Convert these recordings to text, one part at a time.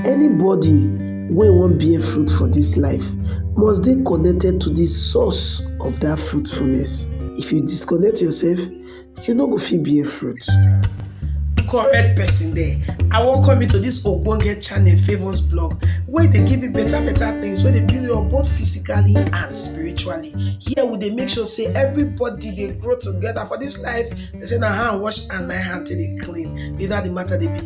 Anybody wey wan bear fruit for dis life must dey connected to di source of dat fruitfulness. If you disconnect yourself, you no go fit bear fruit. Correct person there, I welcome you to dis ogbonge channel Favour's Blog wey dey give you better better things wey dey build you up both physically and spiritually. Here we dey make sure say everybody dey grow together for dis life, dem say na hand wash hand na im hand take dey clean, be that the matter dey be.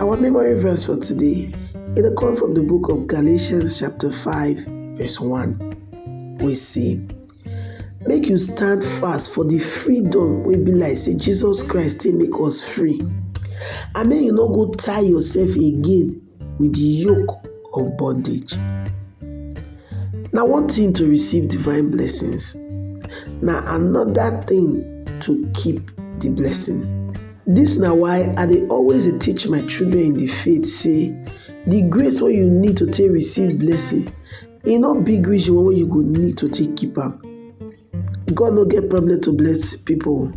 Our memory verse for today it dey come from the book of Galatians chapter 5 verse 1 We see, make you stand fast for the freedom wey be like say Jesus Christ take make us free and make you no go tie yourself again with the yoke of bondage. Now one thing to receive divine blessings Now another thing to keep the blessing. Dis na why I dey always dey teach my children in the faith say the grace wey you need to take receive blessing e no big reach the one wey you go need to take keep am. God no get problem to bless people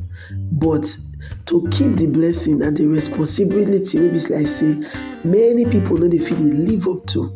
but to keep the blessing na the responsibility wey be like say many people no dey fit dey live up to.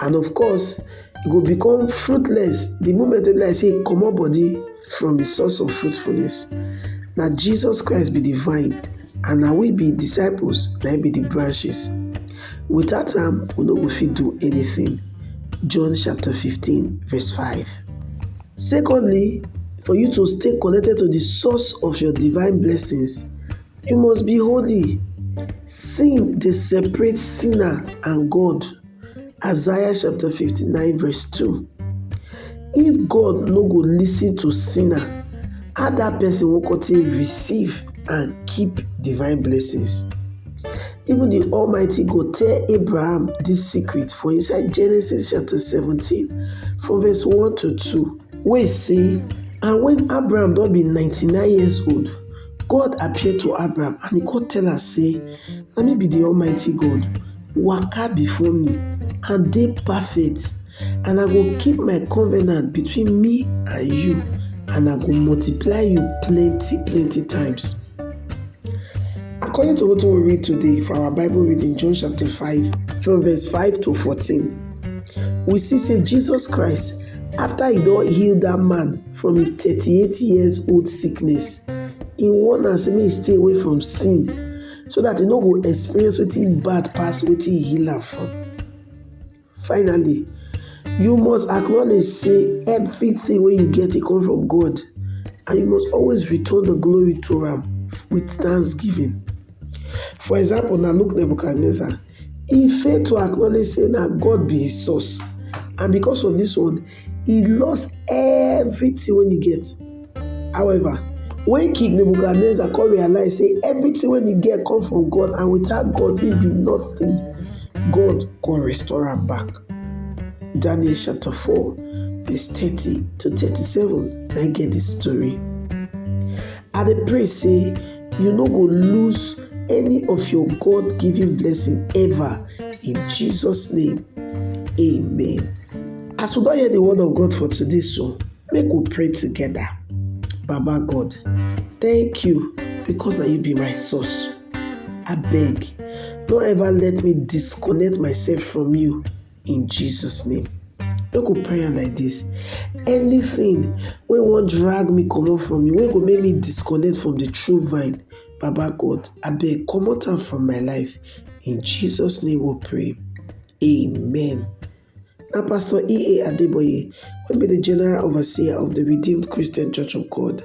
and of course e go become fruitless the moment wey be like say e comot body from the source of fruitfulness. Na Jesus Christ be the vine and na we be disciples na im be the branches. Without am we no go fit do anything. John chapter 15 verse 5. Secondly, for you to stay connected to the source of your divine blessings, You must be holy. Sin dey separate sinner and God. Isaiah chapter 59 verse 2. If God no go listen to sinner, how that person will come take receive and keep divine blessings? Even the Almighty God tell Abraham this secret for inside Genesis chapter 17 from verse 1 to 2 wey say, And when Abraham don be 99 years old, God appear to Abram and he come tell am say, na me be the almighty God, waka before me and dey perfect and I go keep my covenant between me and you and I go multiply you plenty plenty times. According to wetin we read today for our Bible reading, John chapter 5 from verse 5 to 14, we see say Jesus Christ after he don heal that man from im thirty eight years old sickness, he warn am say make he stay away from sin so dat he no go experience wetin bad pass wetin he heal am from. Finally, you must acknowledge say everything wey you get e come from God and you must always return the glory to am with thanksgiving. For example now look Nebuchadnezzar e fail to acknowledge sey na God be im source and because of dis one e lost everything wey e get however when king Nebuchadnezzar come realize sey everything wey e get come from God and without God im be nothing God go restore am back Daniel chapter four verse thirty to thirty-seven na im get dis tori I dey pray sey You no go lose any of your God given blessing ever in Jesus' name. Amen. As we don hear the word of God for today, so make we pray together. Baba God, thank you because na you be my source. Abeg, no ever let me disconnect myself from you. in Jesus name. Make go pray am like this. Anything wey wan drag me comot from you, wey go make me disconnect from the true vine, Baba God, abeg comot am from my life. In Jesus name we pray. Amen. Na Pastor E.A. Adeboye wey be the General Overseer of the Redeemed Christian Church of God